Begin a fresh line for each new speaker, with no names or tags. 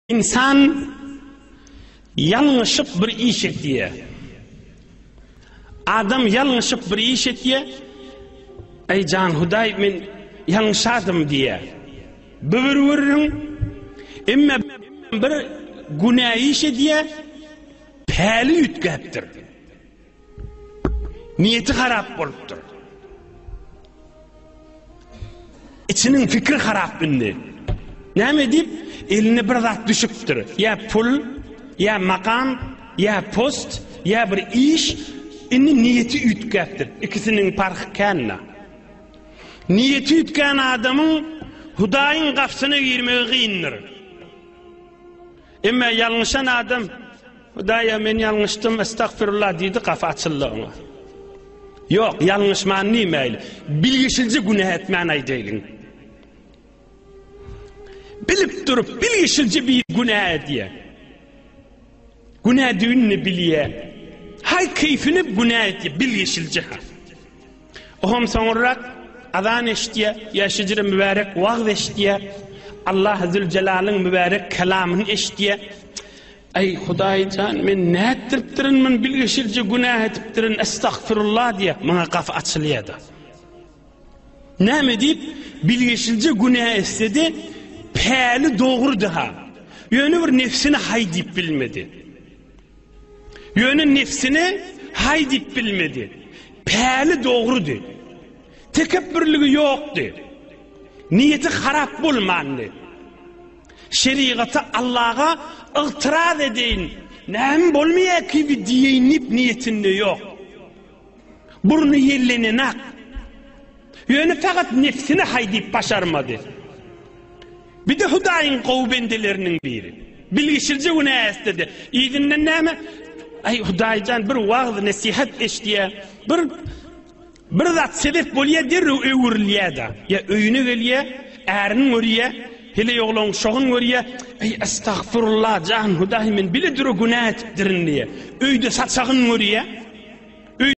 Ynsan ýalňyşyp bir iş etýär. Adam ýalňyşyp bir iş etýär. Eý jan Hudaý men ýalňyşadym diýär. Bübür wurrun emme bir günä iş edýär. Päli üýtgäpdir. Niýeti harap bolupdyr. İçiniň fikri harap indi. Näme edip? Eline bir zat düşüpdir. Ya pul, ya makam, ya post, ya bir iş. Indi niýeti üýtgäpdir. İkisiniň parhy känna. Niýeti üýtgän adamyň Hudaýyň gapsyna girmegi gyndyr. Emma ýalňyşan adam, Hudaýa, men ýalňyşdym, estagfirullah diýdi, gapy açyldy oňa. Ýok, ýalňyşman diýmäýli. Bilgişilje günä etmän aýdaýlyň. Bilip durup, bilgişilje bir günä edýä. Günä düýnüni bilýä. Haý keýfini günä etýä, bilgişilje. Oňam soňurrak azan eşitýär, ýa şejere mübärek wagyz eşitýär, Allah Züljelalyn mübärek kelamyny eşitýär. Aý Hudaý jan, men nätdiripdirin, men bilgeşirje günah edipdirin, estagfirullah diýär, maňa gapy açylýar-da. Näme diýip, bilgeşilje günah etsedi, päli dogrudy ha. Ýöne bir nefsini haý diýip bilmedi. Ýöne nebsine haý diýip bilmedi. Päli dogrudy. Tekepbürligi ýokdy. Niýeti harap bolmandy. Şerigata, Allaga ygtyraz edeýin, näme bolmaýar kibi diýeýin diýip niýetinde ýok. Burny ýellenenak. Ýöne fakat nefsini haýdyp başarmady. Bir-de Hudaýyň gowy bendeleriniň biri. Bilgişilje günä ästedi. Yzyndan näme? Aý Hudaýjan bir wagz nesihat eşdýä. Bir bir zat sebep bolýa derrew öwrülýä-de. Ýa öýüne gelýä, ärini görýä, heleý oglan şogun görýä. Aý astagfurullah jan Hudaý men bile dura günä etipdirin diýä. Öýde saçagyn görýä.